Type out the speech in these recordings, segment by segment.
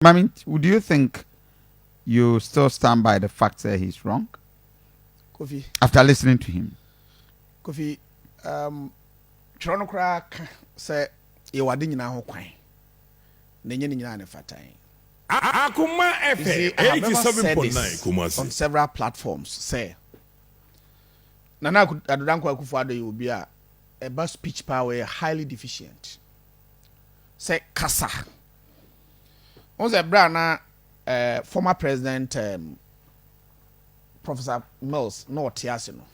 Mame do you think you still stand by the fact sɛ he's wrong Kofi. after listening to him? Kofi um, twerɛ no koraa ka sɛ yɛwɔ ade nyinaa ho kwan na ɛnyɛ ne nyinaa ne fatae. Akoma Efe, see, I have never said 87.9 this Kumasi. on several platforms sɛ Nana Aku- Addo Dankwa Akufo-Addo yɛ obi a ɛba speech paa ɔyɛ highly deficient sɛ kasa Wohu sɛ berɛ a na eh, former president eh, Professor Mills na ɔte ase no,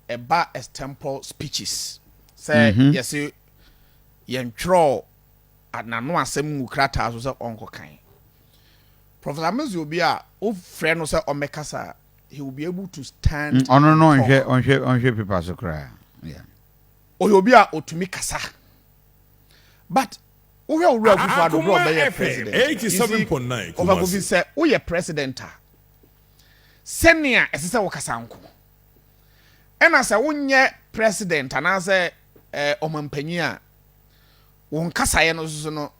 ɛba extempore speeches sɛ mm -hmm. yɛse yɛntwerɛ n'ano asɛm ngu krataa so sɛ ɔnkɔkan. Professor Mills yɛ obi a wofrɛ no sɛ ɔmmɛkasa a, he will be able to stand. Mm, ɔno no ɔnhwɛ ɔnhwɛ ɔnhwɛ pepa so koraa. Ɔyɛ obi a ɔtumi kasa. But Wohwɛ Owura Akuffo Addo berɛ a ɔbɛyɛɛ President a, isi kɔfa kofi sɛ woyɛ President a, sɛnea ɛsɛ sɛ wokasa nko. Ɛna sɛ wonyɛ President anaasɛ Ɔmanpanyin a, wo nkasaeɛ no nso no,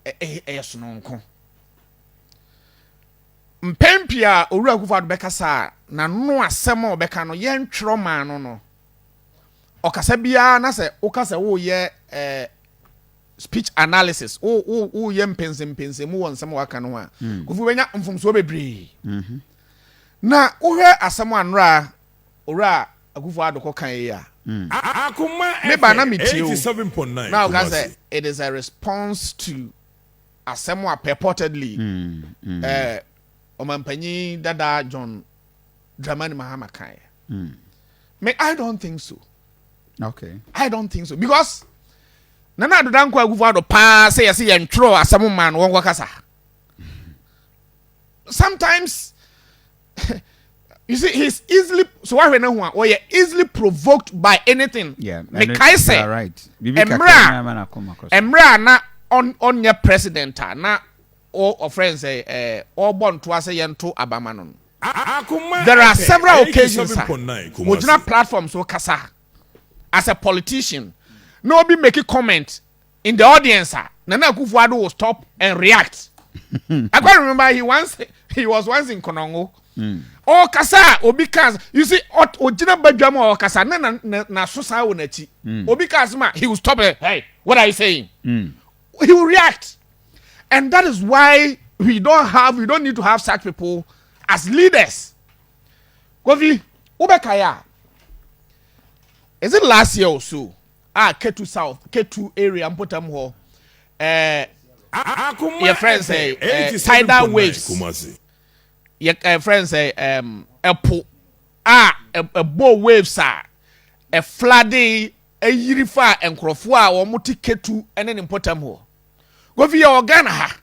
ɛyɛ sononko. Mpɛn pii a Owura Akuffo Addo bɛkasa a, n'ano asɛm a ɔbɛka no, yɛntwerɛ maa no no, ɔkasa biara na sɛ woka sɛ woyɛ eh, speech analysis woyɛ mpɛnsɛmpɛnsɛ mu wɔ nsɛm a waka no ho a mm. kofi wobɛnya mfomsoɔ bebree mm-hmm. na wohwɛ asɛm a nnora owura akufo adokɔ kan yi a mm. me ba na metie o na woka sɛ it is a response to asɛm a purportedly mm, eh, ɔmampanyin dada john dramani mahama kan Mm. Me, I don't think so. Okay. I don't think so because nana adoda nkɔ agufo ado paa sɛ yɛsɛ yɛn twerɛ asɛm maa no wɔnkɔ kasa. Sometimes you see he's easily so wahwɛ ne ho a ɔyɛ easily provoked by anything. Yeah, mekae sɛ mmerɛ a mmerɛ a na ɔnyɛ president a na ɔfrɛ n sɛ ɔbɔ ntoa sɛ yɛnto abama no no. There are several occasions a wogyina platform so kasa as a politician na obi make comment in the audience a Nana Akufo-Addo will stop and react. I quite remember he once he was once in Konongo. Ɔkasa a obi ka you see ogyina badwam a ɔkasa na na na so saa wɔ n'akyi. Obi ka asɛm a he will stop it. Hey, what are you saying? he will react and that is why we don't have we don't need to have such people as leaders kofi wobɛka ya is it last year or so ah ketu south ketu area mpotam hɔ eh your friends say eh, eh, tidal waves your eh, friends say eh, um epo ah ebo waves ah a flooding yiri faa nkurɔfoɔ a wɔte Ketu ne ne mpɔtam hɔ. Kofi yɛ wɔ Ghana ha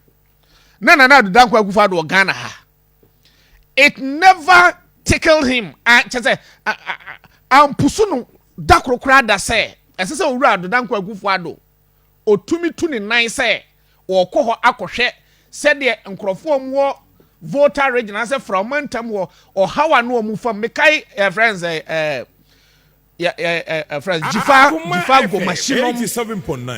na Nana Addo Dankwa Akufo-Addo wɔ Ghana ha. It never tickled him kyɛ sɛ ampusu no da koro koraa da sɛ ɛsɛ sɛ Owura Addo Dankwa Akufo-Addo ɔtumi tu ne nan sɛ ɔrekɔ hɔ akɔhwɛ sɛdeɛ nkurɔfoɔ a wɔwɔ Volta region anaasɛ Fra ɔmantam hɔ ɔhaw a na wɔn fam mekae ɛfrɛ nsɛ ɛɛ Yeah, yeah, yeah, uh, friends. Jifa, Jifa Gomashino.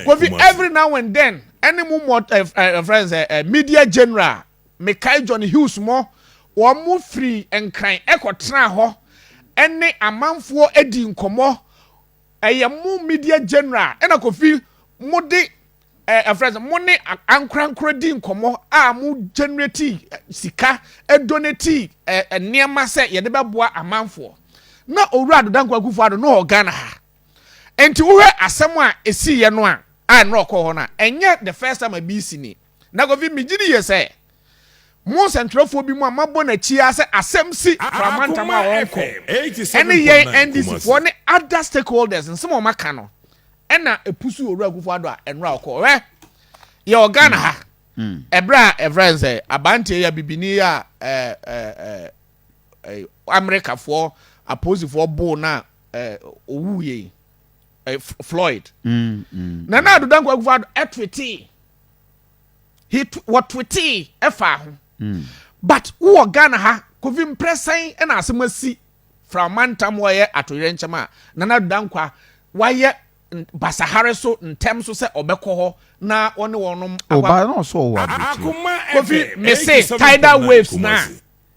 Kofi, every now and then, any more uh, eh, uh, eh, eh, friends, uh, uh, media general, Mekai John Hughes mo, wɔn mo firi nkran ɛkɔ tena hɔ, ɛne amanfoɔ edi nkɔmɔ, ɛyɛ mo media general, ɛna Kofi mo de eh, ɛfrɛ sɛ mo ne ankorankoro di nkɔmmɔ a mo generate eh, sika eh, donate eh, nneɛma sɛ yɛde bɛboa amanfoɔ na owura adodankwa akufo ado no wɔ ghana ha nti wohwɛ asɛm a ɛsiiɛ no a a ɛnna ɔkɔ hɔ no a ɛnyɛ the first time a bi si ni na kofi megye ne yie sɛ mo nsɛntwerɛfoɔ bi mu a mabɔ n'akyi ara sɛ asɛm si framantam a wɔnkɔ ɛne yɛn ndcfoɔ ne other stakeholders nsɛm a wɔaka no Ɛna ɛpusu owura akufo adɔ a ɛnora ɔkɔ ɔhwɛ yɛ ɔga na ha ɛberɛ a ɛfrɛ n sɛ abanteɛ yɛ bibini yɛ a amerikafoɔ aposifoɔ boo no a ɔwu yɛi floyd na na adoda nkɔ akufo adɔ ɛtwetee wɔtwetee ɛfaa ho but wowɔ ghana ha kofi mprɛsɛn ɛna asɛm asi Fra mantam wɔyɛ atoyerɛnkyɛm a Nana Addo Dankwa wayɛ basahare so ntɛm so sɛ ɔbɛkɔ hɔ na ɔne wɔnom awabrɛkyire. Kofi mese tidal waves no a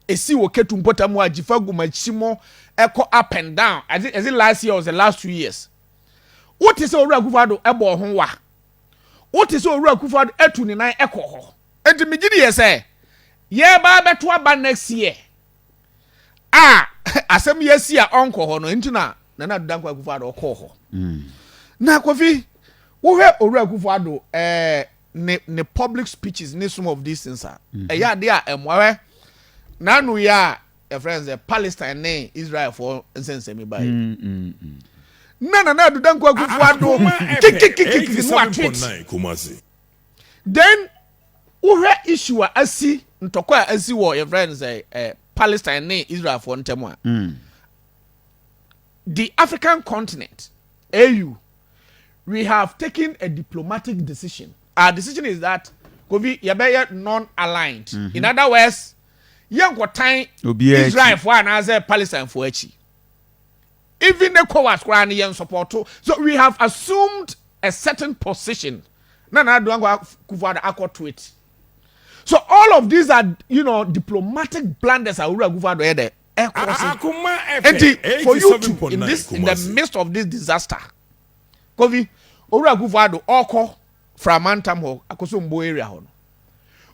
ɛsi wɔ Ketu mpɔtam hɔ a Gyifa gu Makyimo ɛkɔ up and down as it, as it last year or the last two years. Wote sɛ Owura Akufo Addo ɛbɔ ho wa. Wote sɛ Owura Akufo Addo ɛtu ne nan ɛkɔ hɔ. Enti megye di yɛ sɛ yɛreba abɛto aba next year. a asɛm yi asi a ɔnkɔ hɔ no nti na nana ado dankwa akufo ado ɔkɔɔ hɔ mm. na kofi wohwɛ owura akufo ado ɛɛ ne ne public speeches ne some of these things a mm-hmm. ɛyɛ ade a ɛmoawɛ n'ano yɛ a yɛfrɛ no sɛ palestine ne israelfoɔ nsɛnsɛmi bae mm, mm, mm. na nana ado dankwa akufo ado kikikikikiki no atwit Then wohwɛ issue a asi ntɔkwa a asi wɔ yɛfrɛ no sɛ eh, Palestine ne Israelfoɔ ntam a mm. the African continent AU we have taken a diplomatic decision our decision is that kofi yɛbɛyɛ non-aligned mm -hmm. in other words yɛnkɔtan Israelfoɔ anaasɛ Palestinefoɔ akyi Even Ecowas koraa no yɛn sɔpɔto so we have assumed a certain position na Nana Duanko Akufo Addo akɔ to it. So all of these are you know diplomatic blunders a Owura Akufo Addo yɛ dɛ ɛkɔ se. Enti for you to in this in the midst of this disaster Kofi Owura Akufo Addo ɔkɔ Framantam hɔ Akosombo area hɔ no.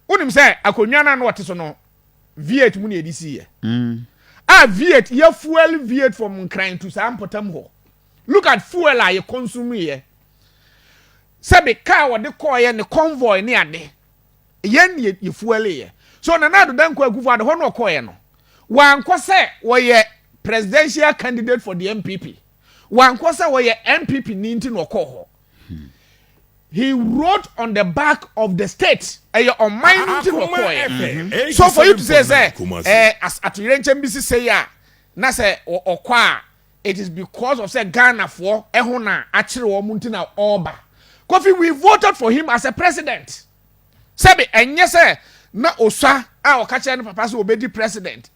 Wonim sɛ akonnwa no a na ɔte so no Viet mu na yɛde sii yɛ. Mm. A Viet yɛ fuel Viet from Nkran to saa mpɔtam hɔ. Look at fuel a yɛ consume yɛ. Sɛbi car wɔde kɔɔ yɛ ne convoy ne ade. Yɛn ne yɛ fuel yɛ. So Nana Addo Dankwa Akufo Addo hɔ na ɔkɔɔ yɛ no. Wankɔ sɛ wɔyɛ presidential candidate for the NPP. Wankɔ sɛ wɔyɛ NPP ni nti na ɔkɔɔ hɔ. He wrote on the back of the state. Ɛyɛ ɔman no nti na ɔkɔɛ. Mm-hmm. So for you to say sɛ ɛɛ atoyerɛnkyɛm bi sise yi a na sɛ ɔkɔ a it is because of sɛ Ghanafoɔ ɛho na akyere wɔn nti na ɔɔba. Kofi we voted for him as a president. Sɛbi ɛnyɛ sɛ na Osua a ɔka kyerɛ ne papa sɛ ɔbɛdi president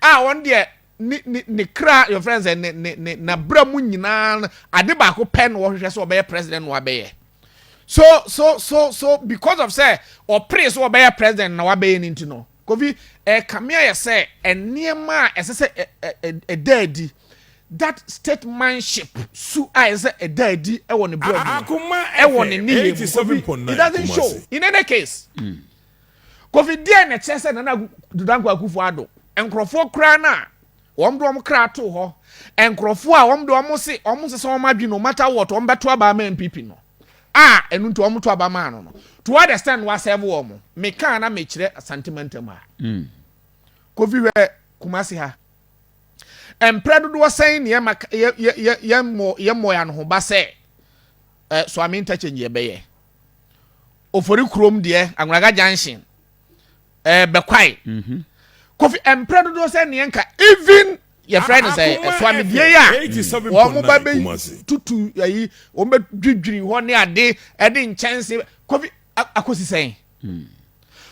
a wɔn deɛ ne ne ne kra your friends eh, ne ne ne n'abira mu nyinaa no ade baako pɛ na wɔhwehwɛ sɛ ɔbɛyɛ president na wabɛyɛ so so so so because of sɛ ɔpere sɛ ɔbɛyɛ president na wabɛyɛ ne nti no kofi ɛkame eh, ayɛ sɛ nneɛma a ɛsɛ sɛ ɛda adi that statemanship su a ɛsɛ sɛ ɛda adi ɛwɔ ne brɛ mu ɛwɔ ne ne yɛ mu kofi it doesn't show in any case. Mm. Kofi deɛn na ɛkyerɛ sɛ Nana Dodankwa Akufo Addo nkorɔfoɔ koraa no a wɔn de wɔn kra too hɔ, nkorɔfoɔ a wɔn de wɔn se wɔn nsesa wɔn adwene no matter what wɔn bɛto aba ama NPP no a ɛno nti wɔn to aba maa no no to what extent wasɛve wɔn? Meka na mekyerɛ Asante mantam ha. Mm. Kofi hwɛ Kumasi ha. Mprɛ dodoɔ sɛn ne yɛma yɛmmɔ yɛn ho ba sɛ eh, so ame interchange yɛbɛyɛ. ofori kurom deɛ agwanaga junction ɛɛ eh, bɛkwae mhm. kofi mpere dodoɔ sɛ neɛ nka even yɛfrɛ no sɛ ɛsoamedie yi a wɔn ba bɛ tutu ayi wɔn bɛ dwidwiri hɔ ne ade ɛde nkyɛnse kofi akosi sɛn hmm.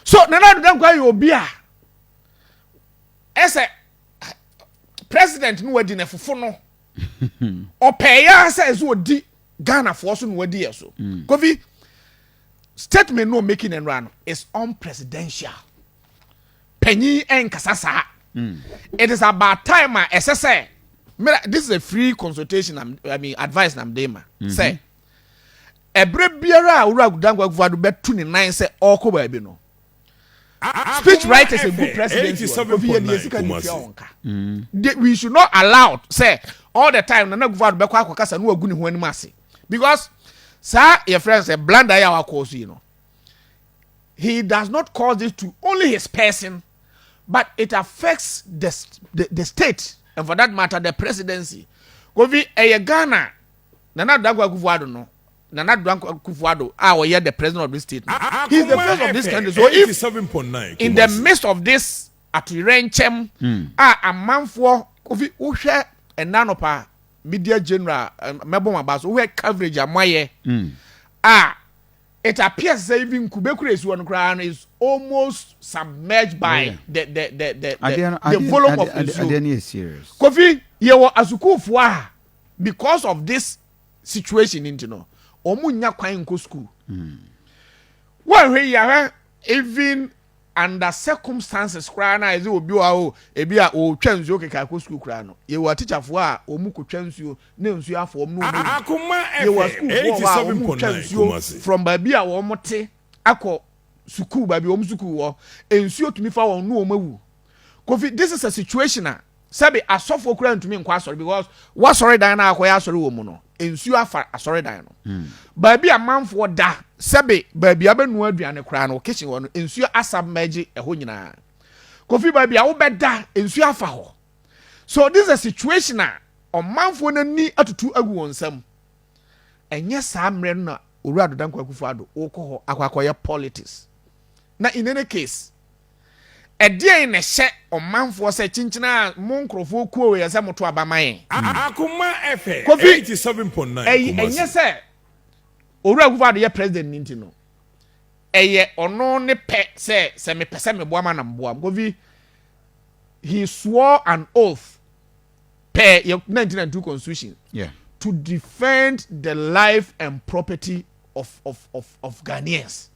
so nana aduda nkwa yɛ obi a ɛsɛ president no wadi na fofo no. ɔpɛɛ yɛ ara sɛ ɛsɛ ɔdi ghanafoɔ so na wadi yɛ so mm. kofi statement no making no nnora no is unpresidential panyin ɛnkasa saa mm. it is about time a ɛsɛ sɛ mera this is a free consultation I'm, i mean advice nam de ma mm-hmm. sɛ ɛberɛ biara a wura dankwakufo ado bɛtu ne nan sɛ ɔrekɔ baabi no Speech writers and good presidents wɔ no. Kofi yɛ deɛ sika ni tua wɔn ka. Mm. We should not allow sɛ all the time Nana Akufo-Addo bɛkɔ akɔkasa no wagu ne ho anim ase because saa yɛ friend sɛ blunder yɛ a wakɔɔ so yi no he does not cause this to only his person but it affects the, the, the state and for that matter the presidency. Kofi ɛyɛ Ghana Nana Akufo-Addo no Nana Danko Akufo-Addo a ɔyɛ the president of this state no, he is the face of this country, so if in the midst of this atoyerɛnkyɛm a amanfoɔ kofi wohwɛ ɛna nɔpa media general mɛbɔ ma ba so wohwɛ coverage a moayɛ a it appears sɛ even kube kura esuo no koraa no is almost submerged by oh, the the the the the, the volume of esuo kofi yɛwɔ asukuufoɔ a because of this situation nti no wɔn nnya kwan nkɔ sukuu wɔhwɛ yi ahwɛ even under circumstances koraa na ɛdze obi wɔ o ebi a ɔretwa nsuo keka akɔ sukuu koraa no yɛwɔ atikyafoɔ a wɔn kɔtwa nsuo na nsuo afɔ wɔn na wɔn yi yɛwɔ sukuufoɔ hɔ a wɔn retwa nsuo from baabi a wɔn te akɔ sukuu baabi wɔn sukuu wɔ nsuo tumi fa wɔn na wɔn awu. Kofi this is a situation a sɛbe asɔfoɔ koraa ntumi nkɔ asɔre because w'asɔredan no a akɔyɛ asɔre wɔ mu no nsuo afa asɔredan no hmm. baabi a manfoɔ da sɛbe baabi a bɛnua aduane koraa no kitchen hɔ no nsuo asab mɛgye ɛhɔ nyinaa kofi baabi a wobɛda nsuo afa hɔ so this is a situation a ɔmanfoɔ no ani atutu agu wɔn nsam ɛnyɛ saa mmerɛ no na owura adodankwa akufo ado wokɔ hɔ akɔ akɔyɛ politics na in any case Ɛdeɛn na ɛhyɛ ɔmanfoɔ sɛ kyenkyen a mo nkorɔfoɔ kuo wei ɛsɛ moto aba ma yɛn? Akoma fm Kofi, eighty seven point nine ɛy, Kumasi. ɛnyɛ sɛ Owura Akufo Addo yɛ President no nti no, ɛyɛ ɔno ne pɛ sɛ sɛ mepɛ sɛ meboa mo a na meboa mo. Kofi, he swore an oath per yɛ nineteen ninety two constitution Yeah. to defend the life and property of, of, of, of Ghanaians.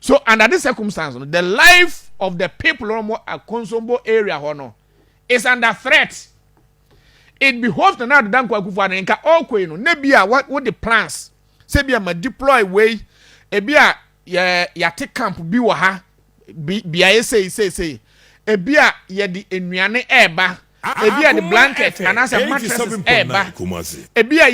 so under this circumstance no the life of the people wɔn wɔ akonsombo area hɔ no is under threat it behoves na n'adoda nkɔ akufo ano nka ɔkɔ yi no ne bi a wɔ de plans sɛ bi a ma deploy wei ebi a yɛ yɛate camp bi wɔ ha bi beaeɛ sei sei sei ebi a yɛde nnuane ɛɛba Ebia de blankɛt anaasɛ matrɛses reba. Ebia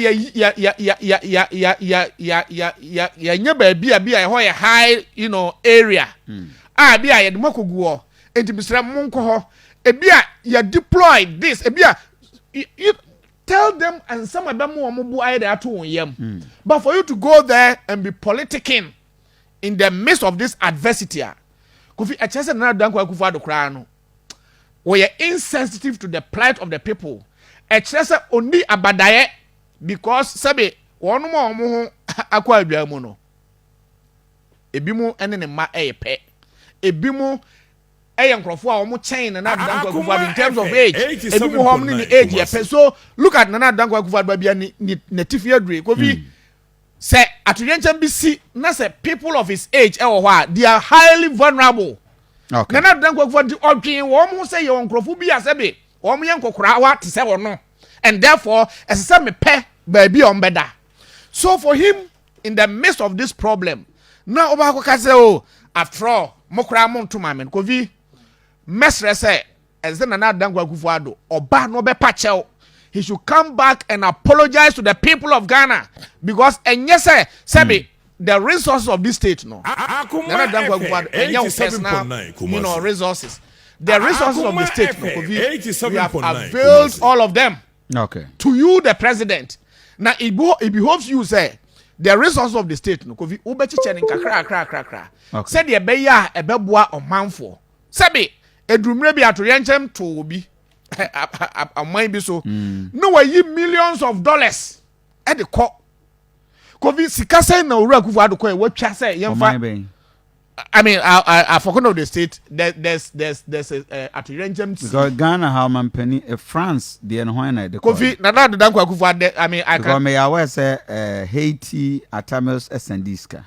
yɛanya baabi a bi a ɛhɔ yɛ high you know, area hmm. a bi a yɛde mo akɔgu hɔ nti mesrɛ monkɔ hɔ ebi a yɛ deploy this ebi a you tell them nsɛm a ɛbɛma wɔn bo ayɛ de ato wɔn yam hmm. but for you to go there and be politicking in the midst of this adversity a kofi ɛkyerɛ sɛ nana dankwa akufo ado koraa no wɔyɛ insensitive to the plight of the people ɛkyerɛ sɛ ɔnni abadaeɛ because sɛbe wɔn a wɔn ho akɔ adwaa mu no ebi mu ne ne mma ɛyɛ pɛ ebi mu ɛyɛ nkurɔfoɔ a wɔn kyɛn nana adan kwakufa bi in terms of age ebi mu hɔ ne ne age yɛ pɛ so look at nana adan kwakufa bi a ne ne ne tifi adure kofi. Mm. Sɛ atoyerɛnkyɛm bi si na sɛ people of his age wɔ hɔ a, they are highly vulnerable. Okay. Nana Addo Dankwa Akufo-Addo de ɔdwen wɔn ho sɛ yɛwɔ nkurɔfo bi a sɛbe wɔn yɛ nkɔkoraawa te sɛ wɔn no, and therefore ɛsɛ sɛ mepɛ baabi a wɔbɛda. So for him, in the midst of this problem, na ɔba akɔka sɛ o, oh, after all, mo koraa mo nto maame no. Kofi, mɛsrɛ sɛ Ɛsɛ sɛ Nana Dankwa Akufo-Addo ɔba na ɔbɛpa kyɛw. He should come back and apologize to the people of Ghana because ɛnyɛ sɛ sɛbe the resources of this state no, Nana Dankwa Akufo-Addo, ɛnyɛ wo personal you know, resources. The resources of the state no, Kofi, we have availed all of them okay. to you, the president. Now, it, it behoves you, say, the resources of the state no, Kofi, wobɛkyekyɛ ne nkakra, kra, kra, kra. Sɛdeɛ ɛbɛyɛ a ɛbɛboa ɔmanfoɔ. Sɛbe, eduru mmerɛ bi atoyerɛnkyɛm too obi ɔman bi so mm. na wayi millions of dollars de kɔ kofi sika sɛn na owura akufo ado kɔɛ watwa sɛ yɛmfa I mean, I, I, I forgot of the state. There, there's, there's, there's a uh, at Renjem Because Ghana, how man penny, uh, France, the and when I Kofi, Nana, the Danko Kufa, I mean, I can't. Because me, I was uh, Haiti, Atamos, Sandiska.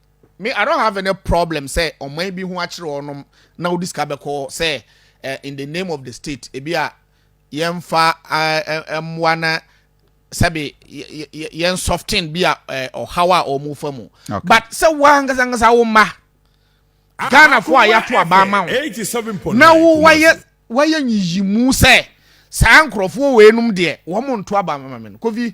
Me I don't have any problem sɛ ɔman bi ho akyere wɔnom na wodi sika bɛkɔ hɔ sɛ in the name of the state ebi a yɛmfa mmoa na sɛbe yɛn soften bi a ɔhaw a wɔn fa mu but sɛ wo ankasa ankasa wo mma Ghana fo a yɛato aba ama wo na wo wayɛ wayɛ nyiyimu sɛ saa nkurɔfoɔ wɔ enum deɛ wɔn nto aba ama me no kofi